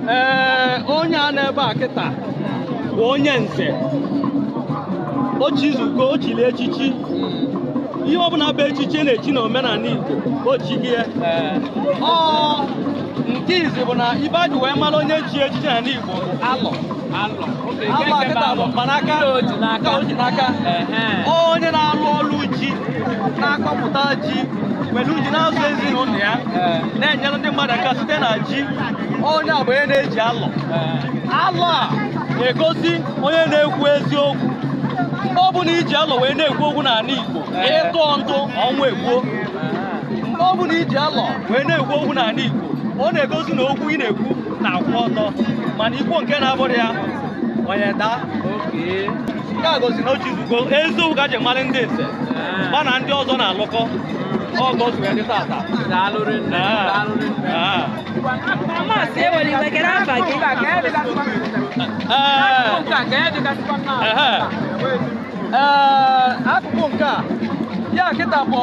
ee onye a nọ ebe a kịta bụ onye nze o chizugo o chiri echichi ihe ọbụla bụ echichi a na-echi na omenala Igbo o chigo ya ọ nke izi bụ na ihe e ji wee mara onye chi echichi n'ala Igbo bụ alọ Agba kịta bụ mkpanaka nke o ji n'aka onye na-alụ ọrụ ji na-akọpụta ji were ji na-azụ ezinụlọ ya na-enyere ndị mmadụ aka site na ji onye a bụ onye na-eji alọ alọ a na-egosi onye na-ekwu eziokwu mgbe ọ bụla i ji alọ wee na-ekwu okwu n'ala Igbo ị tụọ ntụ ọnwụ egbuo mgbe ọ bụla i ji alọ wee na-ekwu okwu n'ala Igbo ọ na-egosi na okwu ị na-ekwu na-akwụ ọtọ mana i kwuo nke na-abụrọ ya onye daa nke a gosi na o chizugo eziokwu ka e ji mara ndị nze gba na ndị ọzọ na-alụkọ ọgọ zuru ya dị tata Ah. Maazị ewela iwe kedu afa gị. Ee, ehe. Ee, akụkụ nke a ya kịta bụ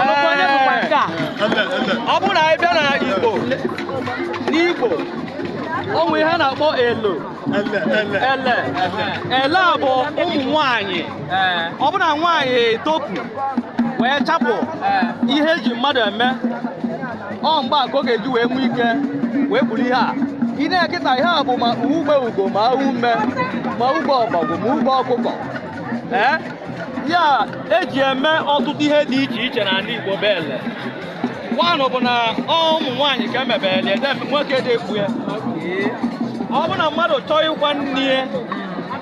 Ọnụkwa onye bụkwa nke a? ọ bụrụ na anyị bịa na igbo n'igbo o nwere ihe a na-akpọ elo ele ele a bụ ụmụ nwanyị ọ bụrụ na nwaanyị etopu wee chapụ ihe e ji mmadụ eme ọ mgbe a ka ọ ga-eji wee nwee ike wee buru ihe a ị na-ele kịta ihe a bụ ma ugbe ugo ma ume ma ugbe ọbọgwụ ma ugbe ọkụkọ ee ya e ji eme ọtụtụ ihe dị iche iche n'ala Igbo bụ ele nwanụ bụ na ụmụ nwaanyị ka e mebelu ele nwoke adị ekpu ya ọ bụ na mmadụ chọọ ịkwa nne ya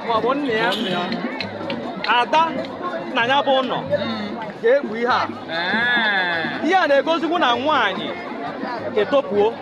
maọbụ nna ya ada na ya bụ ụlọ ga-ekpu ihe a ihe a na-egosikwu na nwaanyị etopuo